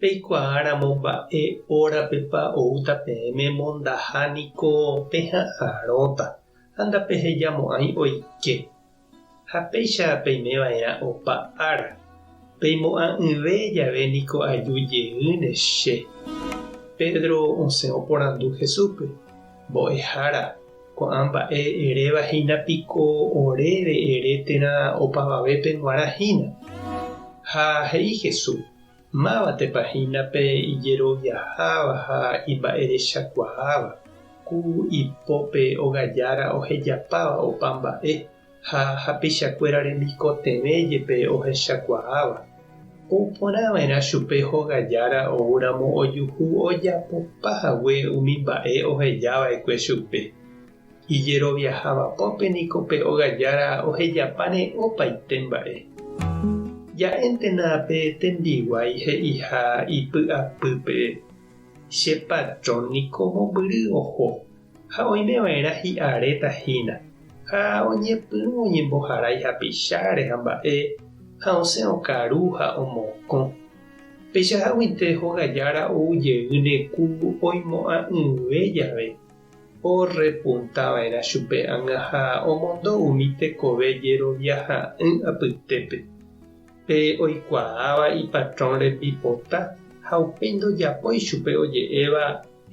Peikuaáramo mba'e órapepa oúta peẽme mondaha niko peha'arõta ha ndapehejamo'ãi oike. Ha péicha peimeva'erã opa ára, peimo'ã'ỹve jave niko aju jeýne che. Pedro osẽ oporandu Jesúspe, Mbo'ehára, ko'ã mba'e eréva hína piko oréve ere térã opavavépe g̃uarã hína. Ha he'i Jesús, Mávatepa hína pe ijeroviaháva ha imba'erechakuaáva, ku ipópe ogajára ohejapáva opa mba'e, ha hapeichakuéra remikotevẽ jepe ohechakuaáva, ou porã va'erã chupe hogajára oúramo ojuhu ojapopa hague umi mba'e oheja va'ekue chupe. Ijeroviaháva pópe niko pe óga jára ohejapáne opaite mba'e. Ja'éntena pe tembiguái he'iha ipy'apýpe, Che patrón niko mombyry oho ha oimeva'erã hi'aréta hína, ha oñepyrũ oñemboharái hapicháre ha mba'e, ha osẽ okaru ha omokõ. Peichaháguinte hoga jára ou jeýne ku oimo'ã'ỹve jave, Orrepunta va'erã chupe ág̃a ha omondo umi tekove jerovia ha'ỹ apytépe. Pe oikuaáva ipatrón rembipota ha upéi ndojapói chupe oje'éva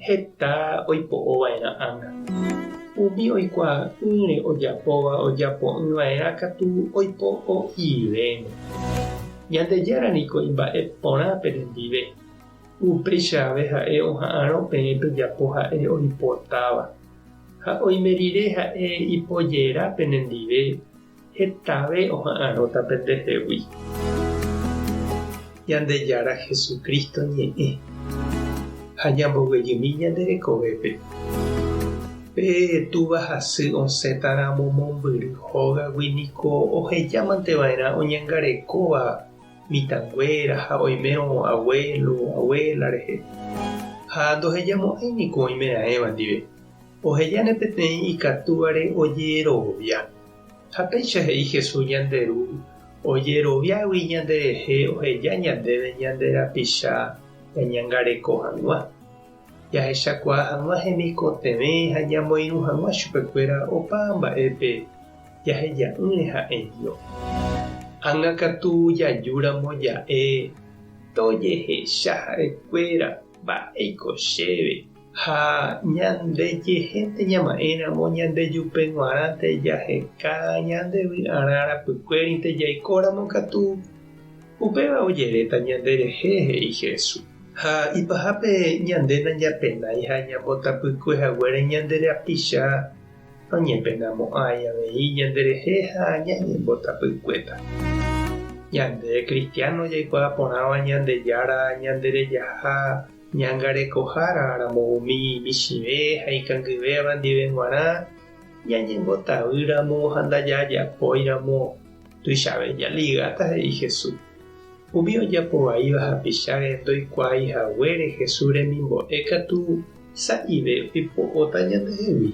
heta oipo'o va'erã ág̃a. Umi oikuaa'ỹre ojapóva ojapo'ỹ va'erã katu oipo'o'ivérõ. Ñandejára niko imba'e porã penendive. Upéicha ave ha'e oha'arõ peẽ pejapo ha'e oipotáva. Ha oime rire ha'e ipojera penendive, hetave oha'arõta pendehegui. Ñandejára Jesucristo ñe'ẽ ha ñamboguejymi ñande rekovépe. Pe Túva hasy osẽta ramo mombyry hógagui niko ohejámante va'erã oñangarekóva mitãnguéra ha oimérõ avuélo, avuéla rehe. Ha ndohejamo'ãi niko oimeraẽva ndive. Ohejáne peteĩ ikatúvare ojerovia. Ha péicha he'i Jesús ñande Ru ojeroviágui ñanderehe oheja ñandéve ñande rapicha ñañangareko hag̃ua, jahechakuaa hag̃ua hemikotevẽ ha ñamoirũ hag̃ua chupekuéra opa mba'épe. jaheja'ỹre ha'e Dios. Ág̃a katu jajúramo ja'e tojehecha ha'ekuéra mba'éiko chéve ha ñandejehénte ñama'ẽramo ñandejupe g̃uarãnte jaheka ñande vy'arã rapykuérinte jaikóramo katu, upéva ojeréta ñanderehe, he'i Jesús. Ha ipahápe ñande najapenái ha ñambotapykue haguére ñande rapicha. Oñepenamo'ãi avei ñanderehe ha ñañembotapykuéta. Ñande kristiáno jaikuaa porãva Ñandejára ñanderejaha ñangarekohára ramo umi michĩve ha ikangyvéva ndive g̃uarã ñañembotavýramo ha ndajajapóiramo. Tuichave jaligáta, he'i Jesús. Umi ojapo vaíva hapicháre ndoikuaái haguére Jesús remimbo'e katu sa'ive oipo'óta ñandehegui.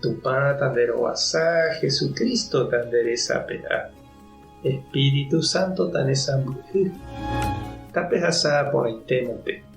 Tupã tanderovasa, Jesús Cristo tanderesape'a, Espíritu Santo tanesãmbyhy. Tapehasa porãitéma pe.